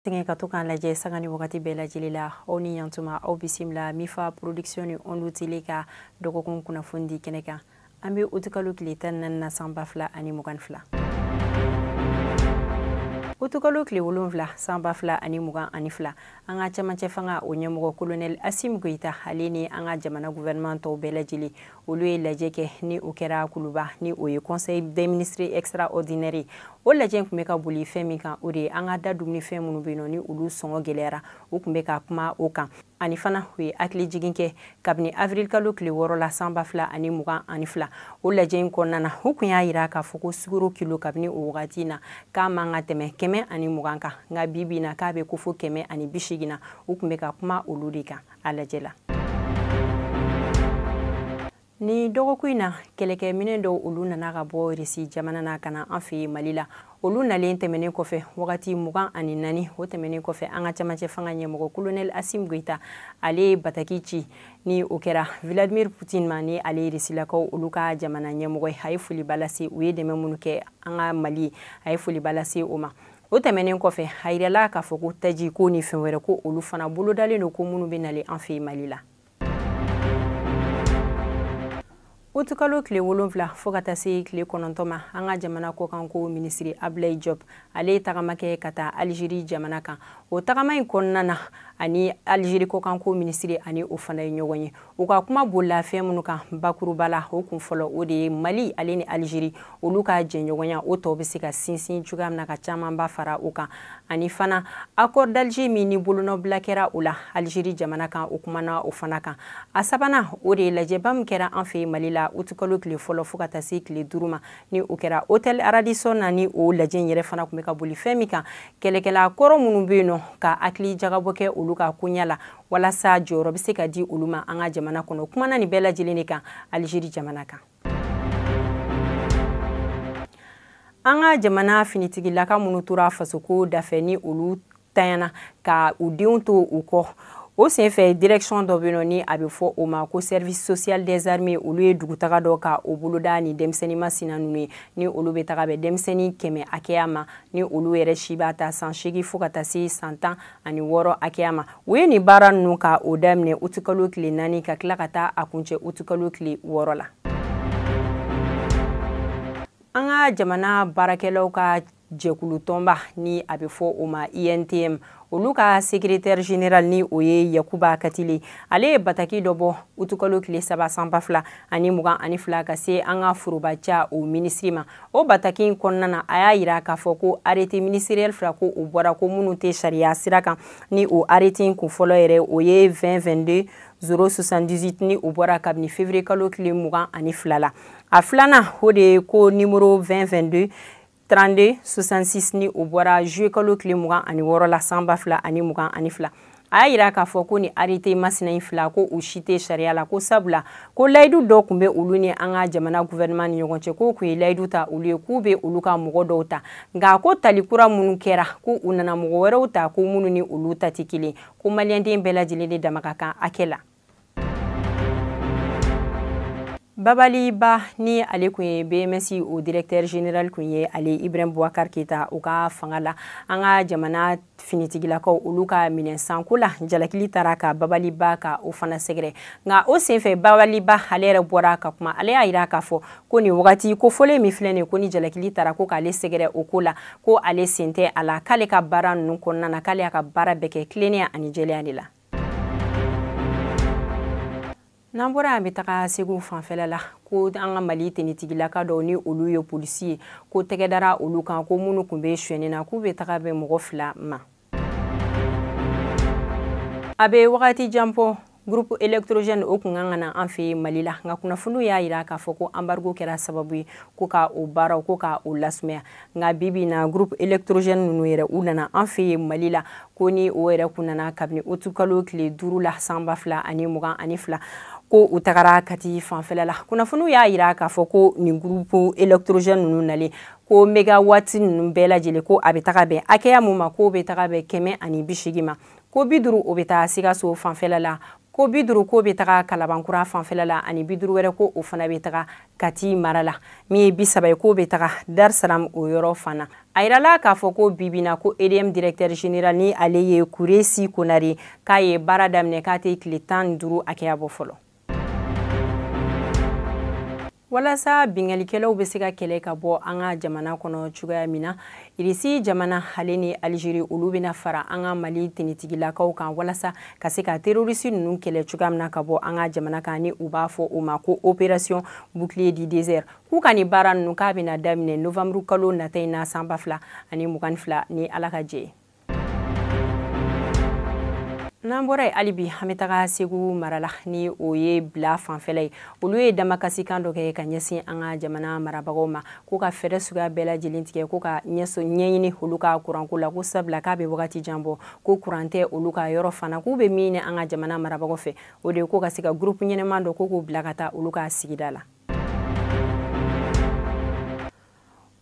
sɛgɛn ka to k'an lajɛ sanga ni wagati bɛɛ lajɛlen la aw ni yantuma aw bisimila mifa production ni ondu tele ka dɔgɔkun kunnafoni di kɛnɛ kan an bɛ utukalo tile tan ni naani na san ba fila ani mugan ni fila utukalo tile wolonfila san ba fila ani mugan ani fila an ka cɛmancɛ fanga o ɲɛmɔgɔ kolonɛli asim goyita ale ni an ka jamana guvɛrɛnman tɔw bɛɛ lajɛlen olu ye lajɛ kɛ ni o kɛra kuluba ni o ye conseil des ministres extraordinaire ye o lajɛ kun bɛ ka boli fɛn min kan o de ye an ka da dumunifɛn minnu bɛ yen nɔ ni olu sɔngɔ gɛlɛyara u kun bɛ ka kuma o kan ani fana u ye hakili jigin kɛ kabini avril kalo tile wɔɔrɔ la san ba fila ani mugan ani fila o lajɛ in kɔnɔna na u kun y'a yira k'a fɔ ko sukaro kilo kabini o wagati in na k'a man ka tɛmɛ kɛmɛ ani mugan kan nka bi bi in na k'a bɛ ko fo kɛmɛ ani bi seegin na u kun bɛ ka kuma olu de kan a lajɛ la ni dɔgɔkun in na kɛlɛkɛminɛ dɔw olu nana ka bɔ risi jamana na ka na an fɛ yen mali la olu nalen tɛmɛnen kɔfɛ wagati mugan ani naani o tɛmɛnen kɔfɛ an ka camancɛ fanga ɲɛmɔgɔ kolonɛli asim goyita ale ye bataki ci ni o kɛra vladimir putin ma ni ale ye risilakaw olu ka jamana ɲɛmɔgɔ ye a ye foliba lase u ye dɛmɛ minnu kɛ an ka mali ye a ye foliba lase o ma o tɛmɛnen kɔfɛ a yirala k'a fɔ ko taji ko ni fɛn wɛrɛ ko olu fana bolodalen don ko minnu bɛ nalen an fɛ mali la utukalo tile wolonfila fɔɔ ka taa se tile kɔnɔntɔn ma an ka jamana kɔkanko minisiri abilayi jɔb ale ye tagama kɛ ka taa alizeri jamana kan o tagama in kɔnɔna na ani alizeri kɔkanko minisiri ani o fana ye ɲɔgɔn ye u ka kuma bolila fɛn minnu kan bakuruba la o kun fɔlɔ o de ye mali ale ni alizeri olu ka jɛɲɔgɔnya o tɔw bɛ se ka sinsin cogoya min na ka camanba fara o kan ani fana accord d'alger min ni bolonɔbila kɛra o la alizeri jamana kan u kumana o fana kan a sabanan o de ye lajɛba min kɛra an fɛ mali la utukalo tile fɔlɔ fɔɔ ka taa se tile duuru ma ni o kɛra hotel radisson na ni o lajɛ in yɛrɛ fana kun bɛ ka boli fɛn min kan kɛlɛkɛla kɔrɔ minnu bɛ yen nɔ ka hakili jagabɔ kɛ olu ka koɲɛ la walasa jɔyɔrɔ bɛ se ka di olu ma an ka jamana kɔnɔ kumana nin bɛɛ lajɛlen de kan alizeri jamana kan an ka jamana finitigilaka minnu tora fasoko dafɛ ni olu tanyana ka u denw to u kɔ o senfɛ direction dɔ bɛ nɔ ni a bɛ fɔ o ma ko service social des armées olu ye dugutaga dɔ ka o boloda ni denmisɛnnin masina ninnu ye ni olu bɛ taga bɛn denmisɛnnin kɛmɛ hakɛya ma ni olu yɛrɛ si b'a ta san seegin fo ka taa se san tan ani wɔɔrɔ hakɛya ma u ye nin baara ninnu ka o daminɛ utukalo tile naani ka tila ka taa a kuncɛ utukalo tile wɔɔrɔ la an ka jamana baarakɛlaw ka jɛkulu tɔnba ni a bɛ fɔ o ma untm olu ka sekiretɛri general ni o ye yakuba katile ale ye bataki dɔ bɔ utukalo tile saba san ba fila ani mugan ani fila ka se an ka forobaca o minisiri ma o bataki in kɔnɔna na a y'a yira k'a fɔ ko arete ministeriɛl fila ko u bɔra ko minnu tɛ sariya sira kan ni o arete in kun fɔlɔ yɛrɛ o ye 2022 zero 78 ni o bɔra kabini fevrier kalo tile mugan ani fila la a filanan o de ye ko nimoro 2022 32 66 ni o bɔra juillet kalo tile mugan ani wɔɔrɔ la san ba fila ani mugan ani fila a y'a yira k'a fɔ ko ni arete masina in fila ko u si tɛ sariya la ko sabula ko layidu dɔ kun bɛ olu ni an ka jamana guvɛrɛnɛman ni ɲɔgɔn cɛ k'u kun ye layidu ta olu ye k'u bɛ olu ka mɔgɔ dɔw ta nka ko tali kura minnu kɛra ko u nana mɔgɔ wɛrɛw ta ko minnu ni olu ta tɛ kelen ko maliyɛnden bɛɛ lajɛlen de dama ka kan hakɛ la babali ba ni ale kun ye bms o directeur general kun ye ale ibrahim boubacar keita o ka fanga la an ka jamana finitigilakaw olu ka minɛnsanko la jalakili taara ka babali ba ka o fana sɛgɛrɛ nka o senfɛ babali ba ale yɛrɛ bɔra ka kuma ale y'a yira k'a fɔ ko nin wagati ko fɔlen min filɛ nin ko ni jalakili taara ko k'ale sɛgɛrɛ o ko la ko ale sen tɛ a la k'ale ka baara ninnu kɔnɔna na k'ale y'a ka baara bɛɛ kɛ tilennenya ani jɛlenya de la n'an bɔra an bɛ taga segu fanfɛla la ko an ka mali tenitigilaka dɔw ni olu ye polisi ye ko tɛgɛ dara olu kan ko minnu kun bɛ suɲɛni na k'u bɛ taga bɛn mɔgɔ fila ma a bɛ wagati jan bɔ groupe électrogène o kun kan ka na an fɛ mali la nka kunnafoniw y'a yira k'a fɔ ko embargo kɛra sababu ye ko ka o baaraw ko ka o lasumaya nka bi bi na groupe électrogène ninnu yɛrɛ u nana an fɛ mali la ko ni o yɛrɛ kun nana kabini utikalo tile duuru la san ba fila ani mugan ani fila ko u tagara kati fanfɛla la kunnafoniw y'a yira k'a fɔ ko nin gurupu elektorogɛn ninnu nalen ko megawati ninnu bɛɛ lajɛlen ko a bɛ taga bɛn hakɛya mun ma k'o bɛ taga bɛn kɛmɛ ani bi segin ma ko bi duuru o bɛ taa sikaso fanfɛla la ko bi duuru k'o bɛ taga kalabankura fanfɛla la ani bi duuru wɛrɛ ko o fana bɛ taga kati mara la min ye bi saba ye k'o bɛ taga dar salam o yɔrɔ fana a yirala k'a fɔ ko bibina ko edm directeur général ni ale ye kuresi konare k'a ye baara daminɛ k'a tɛ tile tan ni duuru hakɛya bɔ fɔlɔ walasa binkalikɛlaw bɛ se ka kɛlɛ ka bɔ an ka jamana kɔnɔ cogoya min na irisi jamana ale ni alizeri olu bɛna fara an ka mali tenitigilakaw kan walasa ka se ka terorisi ninnu kɛlɛ cogoya min na ka bɔ an ka jamana kan ni u b'a fɔ o ma ko operasiyɔn bouclier du désert k'u ka nin baara ninnu k'a bɛna daminɛ novanburu kalo nata in na san ba fila ani mugan ni fila ni ala ka jɛn ye n'an bɔra yen hali bi an bɛ taga segu mara la ni o ye bila fanfɛla ye olu ye damakasikan dɔ kɛ ka ɲɛsin an ka jamana marabagaw ma k'u ka fɛɛrɛ suguya bɛɛ lajɛlen tigɛ k'u ka ɲɛɲini olu ka kuranko la ko sabula k'a bɛ wagati jan bɔ ko kuran tɛ olu ka yɔrɔ fana k'u bɛ min ɲini an ka jamana marabagaw fɛ o de ye k'u ka se ka gurupu ɲɛnɛman dɔ ko k'u bila ka taa olu ka sigida la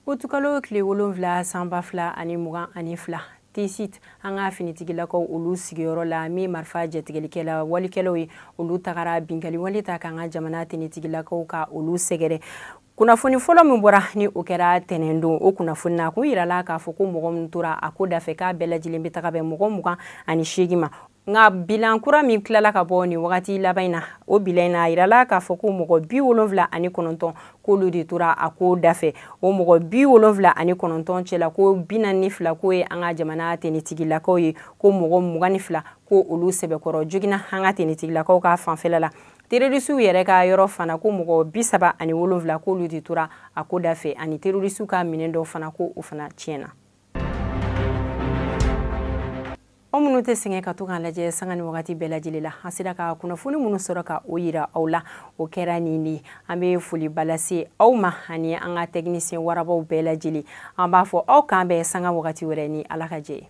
utukalo tile wolonfila san ba fila ani mugan ani fila tesit an ka finitigilakaw olu sigiyɔrɔ la min marifa jatigɛlikɛla walekɛlaw ye olu tagara binkali wale ta k'an ka jamana tenitigilakaw ka olu sɛgɛrɛ kunnafoni fɔlɔ min bɔra ni o kɛra tɛnɛn don o kunnafoni na kun yirala k'a fɔ ko mɔgɔ min tora a ko dafɛ k'a bɛɛ lajɛlen bɛ taga bɛn mɔgɔ mugan ani seegin ma nka bilan kura min tilala ka bɔ nin wagati laban in na o bilan in na a yirala k'a fɔ ko mɔgɔ bi wolonfila ani kɔnɔntɔn k'olu de tora a ko dafɛ o mɔgɔ bi wolonfila ani kɔnɔntɔn cɛla ko bi naani ni fila k'o ye an ka jamana tenitigilakaw ye ko mɔgɔ mugan ni fila ko olu sɛbɛkɔrɔ joginna an ka tenitigilakaw ka fanfɛla la terorisiw yɛrɛ ka yɔrɔ fana ko mɔgɔ bi saba ani wolonfila k'olu de tora a ko dafɛ ani terorisiw ka minɛn dɔw fana ko o fana tiɲɛna aw minnu tɛ sɛgɛn ka to k'an lajɛ sanga ni wagati bɛɛ lajɛlen la an sera ka kunnafoni minnu sɔrɔ ka o yira aw la o kɛra nin de an bɛ foliba lase aw ma ani an ka tɛkinisiyɛn warabaw bɛɛ lajɛlen an b'a fɔ aw k'an bɛn sanga wagati wɛrɛ ni ala ka jɛ ye